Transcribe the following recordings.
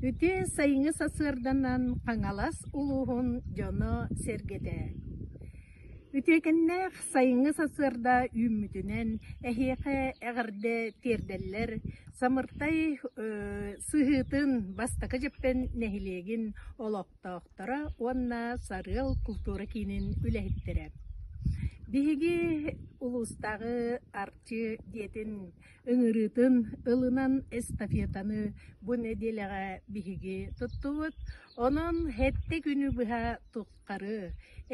Үтүө сайыҥҥы сарсыарданан Хаҥалас улууһун дьоно-сэргэтэ Үтүөкэннээх сайыҥҥы сарсыарда үүммүтүнэн эһиэхэ эҕэрдэ тиэрдэллэр Самыртай сыһыытын бастакы дьэппэн нэһилиэгин олохтоохторо уонна Сарыал култуура киинин үлэһиттэрэ Биһиги улуустааҕы Арчы дьиэтин ыҥырыытын ылынан эстафетаны бу нэдиэлэҕэ биһиги туттубут. Онон хэттэ күнү быһа туххары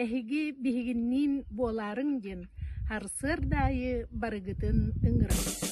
эһиги биһигинниин буолаарыҥ диэн харсыарда аайы барыгытын ыҥырабыт.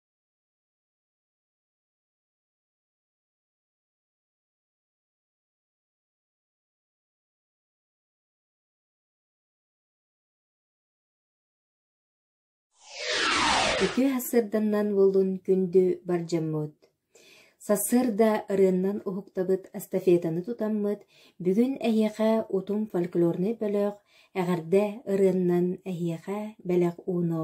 Үтүө сырданнан буоллун күндү бардьаммыт! Сарсыарда ырыаннан уһуктабыт эстафетаны тутаммыт, бүгүн эһиэхэ утум фольклорнай бөлөх «Эҕэрдэ ырыаннан» эһиэхэ бэлэх ууно.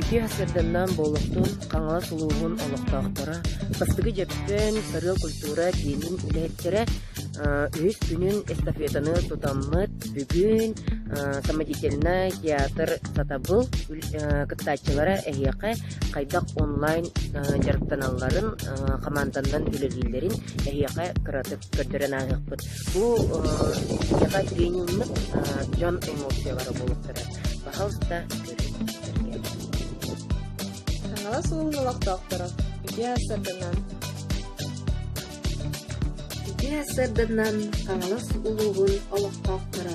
Ити сырданнаан буолуохтун Хаҥалас улууһун олохтоохторо, бастакы Дьөппөн сарыал культура киинин үлэһиттэрэ үһүс күнүн эстафетаны тутаммыт бүгүн самодятельный театр сатабыл кыттааччылара эһиэхэ хайдах онлайн дьарыктаналларын, хамаанданан үлэлииллэрин эһиэхэ кыратык көрдөрөн ааһыахпыт. Бу эһиэхэ тренинг дьон эмоциялара буолуохтара. Пожалуйста, хаҥалас уун олохтоохторо ити сырдынан ити сырдынан хаҥалас улууһун олохтоохторо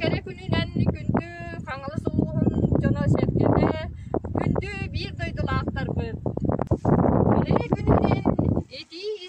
Кэрэ күнүнэн күндү Хаҥалас улууһун дьоно-сэргэтэ, күндү биир дойдулаахтарбыт! Кэрэ күнүнэн итии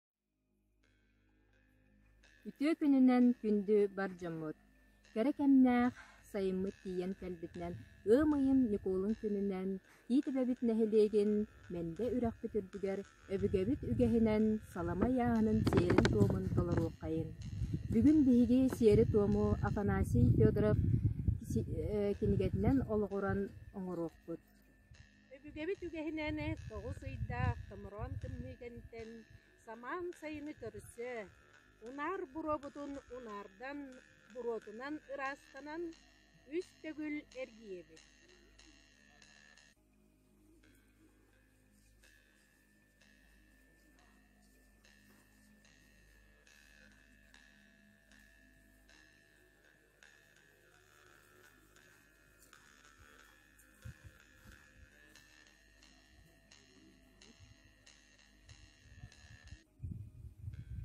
Үтүө күнүнэн күндү бар дьоммут! Кэрэ кэмнээх сайыммыт тиийэн кэлбитинэн ыам ыйын Ньукуолун күнүнэн Тиит Эбэбит нэһилиэгин Мэндэ үрэхпит үрдүгэр өбүгэбит үгэһинэн салама ыйааһынын сиэрин-туомун толоруоххайын. Бүгүн биһиги сиэри-туому Афанасий Федоров кинигэтинэн олоҕуран оҥоруохпут Өбүгэбит үгэһинэн тоҕус ыйдаах томороон тымныыгынтэн самаан сайыны көрсө, унаар буруобутун унаардан, буруотунан ыраастанан, үс төгүл эргийэбит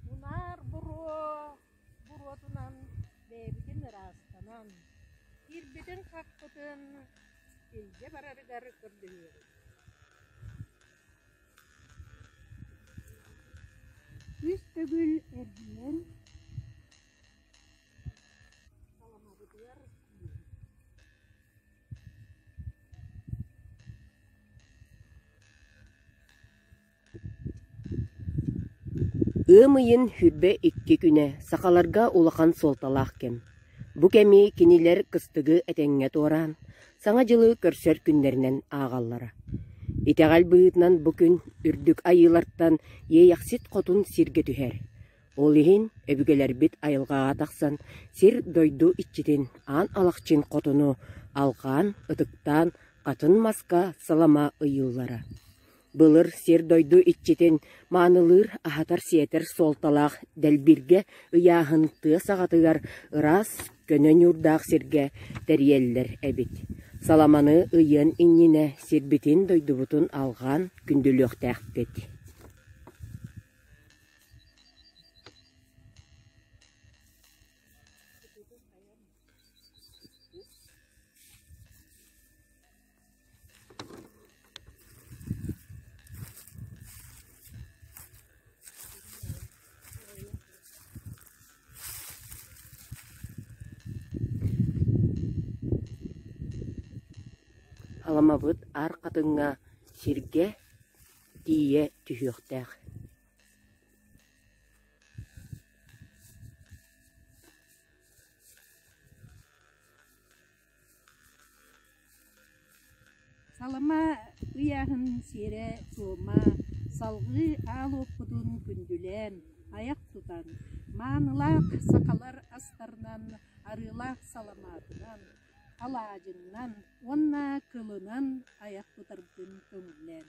Мунаар буруо буруотунан бэйэбитин ыраастанан, киирбитин хахпытын илдьэ барарыгар көрдөһүөбүт Күүс төгүл эргинэн Саламабытыгар киирэбит Ыам ыйын сүүрбэ икки күнэ сахаларга улахан суолталаах кэм. Бу кэми кинилэр кыстыгы этэҥҥэ туораан, Саҥа дьылы көрсөр күннэринэн ааҕаллара. Итэҕэл быһыытынан бу күн Үрдүк Айыылартан Иэйэхсит Хотун сиргэ түһэр. Ол иһин өбүгэлэрбит айылҕаҕа тахсан сир-дойду иччитин, аан алахчын хотуну алҕаан, ытыктаан, хатын маска салама ыйыыллара. Былыр сир-дойду иччитин маанылыыр, аһатар-сиэтэр суолталаах дэлбиргэ ыйааһын тыа саҕатыгар ыраас, көнө ньуурдаах сиргэ тэрийэллэр эбит. Саламаны ыйыан иннинэ сирбитин-дойдубутун алҕаан күндүлүөхтээхпит. Аламабыт аар хатыҥҥа, сиргэ тиийэ түһүөхтээх Салама ыйааһын сиэрэ суома салгыы аал уоппутун күндүлээн, айах тутан, маанылаах сахалар астарынан, арыылаах саламаатынан, алаадьынан уонна кылынан айах тутаргын көҥүллээн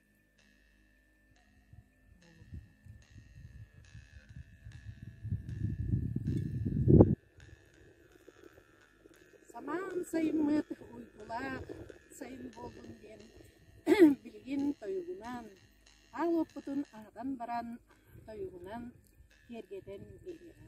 Самаан сайыммыт уйгулаах сайын буоллун диэн билигин тойугунан, аал уоппутун аһатан баран тойугунан киэргэтэн биэриэҕэ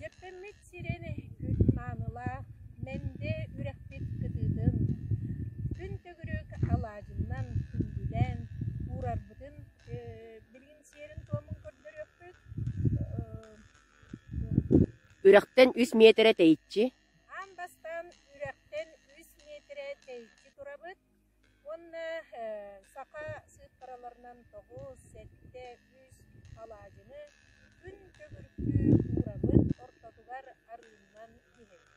Дьэппэммит сирэйэ күн маанылаах, мэндэ үрэхпит кытыытын, күн төгүрүк алаадьынан күндүлээн уурарбытын билигин сиэрин-туомун көрдөрүөхпүт Үрэхтэн үс миэтэрэ тэйиччи Уонна саха сыыппараларынан тоҕус, сэттэ, үс алаадьыны күн төгүрүкү уурабыт ортотугар арыыннан иһэбит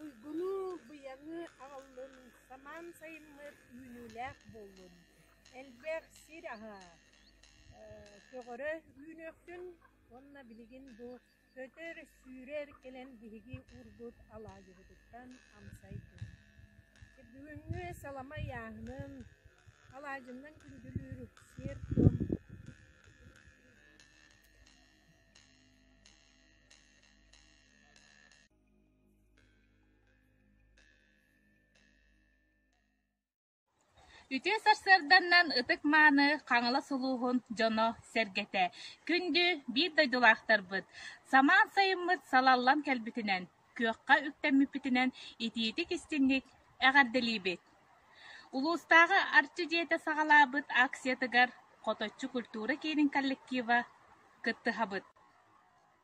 Уйгуну, быйаҥы аҕаллын, самаан сайыммыт үүнүүлээх буоллун, элбэх сир аһа, көҕөрө үүнүөхтүн уонна билигин бу Көтөр, сүүрэр кэлэн биһиги уурбут алаадьыбытыттан амсай тыҥа. Бүгүҥҥү саламай ааһынын, алаадьыннан күндүлүүр сиэр-туом Үтүө сарсыарданнан ытык-мааны Хаҥалас улууһун дьоно-сэргэтэ күндү биир дойдулаахтарбыт самаан сайыммыт салаллан кэлбитинэн, күөххэ үктэммиппитинэн итиитик-истиҥник эҕэрдэлиибит! Улуустааҕы Арчы дьиэтэ саҕалаабыт акциятыгар Хоточчу культура киинин коллектива кыттыһабыт.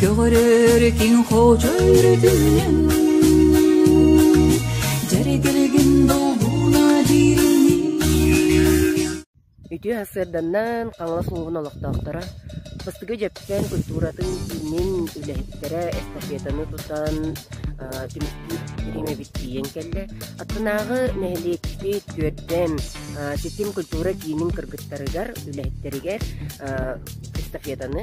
Көҕөрөр киҥ хочойор түмүнэн Дьэригиргин долгуна диириҥнии Үтүө сарсыарданнан Хаҥалас улууһун олохтоохторо Бастыгы Дьэпсээн культуратын киинин үлэһиттэрэ эстафетаны тутан түмүктүүр эбит тиийэн кэллэ. Аттынааҕы нэһилиэкпит Күөрдэм Ситим культура киинин кыргыттарыгар, үлэһиттэригэр эстафетаны